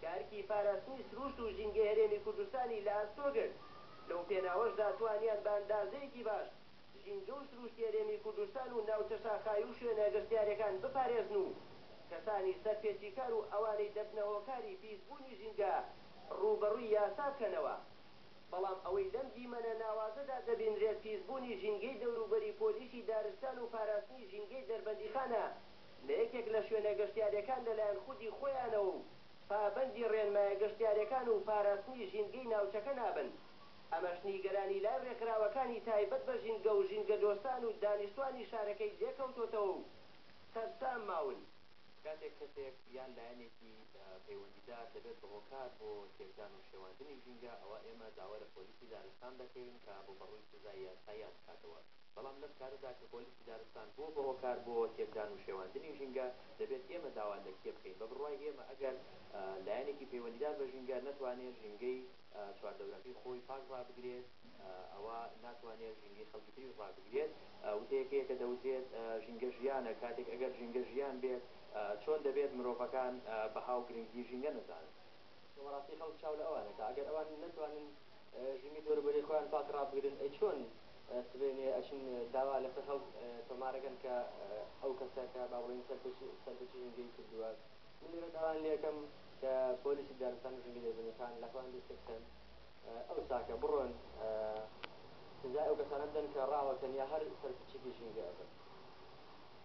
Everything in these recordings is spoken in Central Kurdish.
کە ئەرکی پاراستنی سرووشت و ژینگەی هەرێمی کوردستانی لە ئەستۆ گرت، لەو پێناوەشدا توانیان بە ئەندازەیەکی باش ژینگە و سرووشتی هەرێمی کوردستان و ناوچە شاخاوی و شوێنە گەشتیارەکان بپارێزن و کەسانی سەرپێچیکار و ئەوانەی دەبنە هۆکاری پیسبوونی ژینگە ڕووبەڕووی یاسا بکەنەوە. بەڵام ئەوەی لەم دیمەنە ناوازەدا دەبینرێت پیسبوونی ژینگەی دەوروبەری پۆلیسی دارستان و پاراستنی ژینگەی دەربەندیخانە لە یەکێک لە شوێنە گەشتیارییەکان لەلایەن خودی خۆیانەوە و پابەندی ڕێنمایە گەشتیارییەکان و پاراستنی ژینگەی ناوچەکە نابن، ئەمەش نیگەرانی لای ڕێکخراوەکانی تایبەت بە ژینگە و ژینگەدۆستان و دانیشتوانی شارەکەی لێکەوتۆتەوە و سەرسام ماون. کاتێک کەسێک یان لایەنێکی پەیوەندیدار دەبێت بە هۆکار بۆ تێکدان و شێواندنی ژینگە، ئەوا ئێمە داوا لە پۆلیسی دارستان دەکەین کە ڕووبەڕووی سزای یاساییان بکاتەوە. بەڵام لەم کارەدا کە پۆلیسی دارستان بووە بە هۆکار بۆ تێکدان و شێواندنی ژینگە، دەبێت ئێمە داوا لە کێ بکەین؟ بە بڕوای ئێمە ئەگەر لایەنێکی پەیوەندیدار بە ژینگە نەتوانێت ژینگەی چواردەورەکەی خۆی پاک ڕابگرێت، ئەوا ناتوانێت ژینگەی خەڵکی تریش ڕابگرێت. وتەیەک هەیە کە دەوترێت ژینگە ژیانە، کاتێک ئەگەر ژینگە ژیان بێت، چۆن دەبێت مرۆڤەکان بەها و گرنگیی ژینگە نەزانن؟ بەڕاستی خەڵک چاو لە ئەوانە کە ئەگەر ئەوان نەتوانن زیمیت وەرە بەرێ خۆیان پاک ڕابگرن ئەی چۆن سبەینێ ئەچن داوا لەسەر هەڵ تۆمارەکەن کە ئەو کەسە کە با بڵێن سەرپەرچی ژینگەی کردووە من لێرە داوان لێکەم کە پۆلیسی دارستان و ژینگە دەربەنیخان لە خۆیان دەست پێبکەن ئەو ساکە بڕۆن سزای ئەو کەسانە بدەن کە ڕاوەکەن یا هەر سەرپەرچێکی ژینگە ئەبن.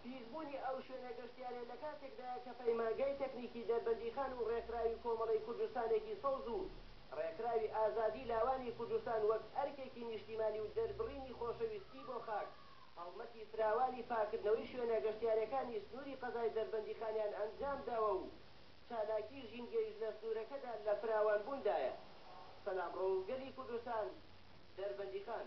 پیسبوونی ئەو شوێنە گەشتیاریە لە کاتێکدایە کە پەیمانگای تەکنیکی دەربەندیخان و ڕێکخراوی کۆمەڵەی کوردستانێکی سەوز و ڕێکخراوی ئازادی لاوانی کوردستان وەک ئەرکێکی نیشتیمانی و دەربڕینی خۆشەویستی بۆ خاک، هەڵمەتی فراوانی پاککردنەوەی شوێنە گەشتیاریەکانی سنووری قەزای دەربەندیخانیان ئەنجامداوە و چالاکی ژینگەیش لە سنوورەکەدا لە فراوانبووندایە. سەلامڕەوگەلی کوردستان، دەربەندیخان.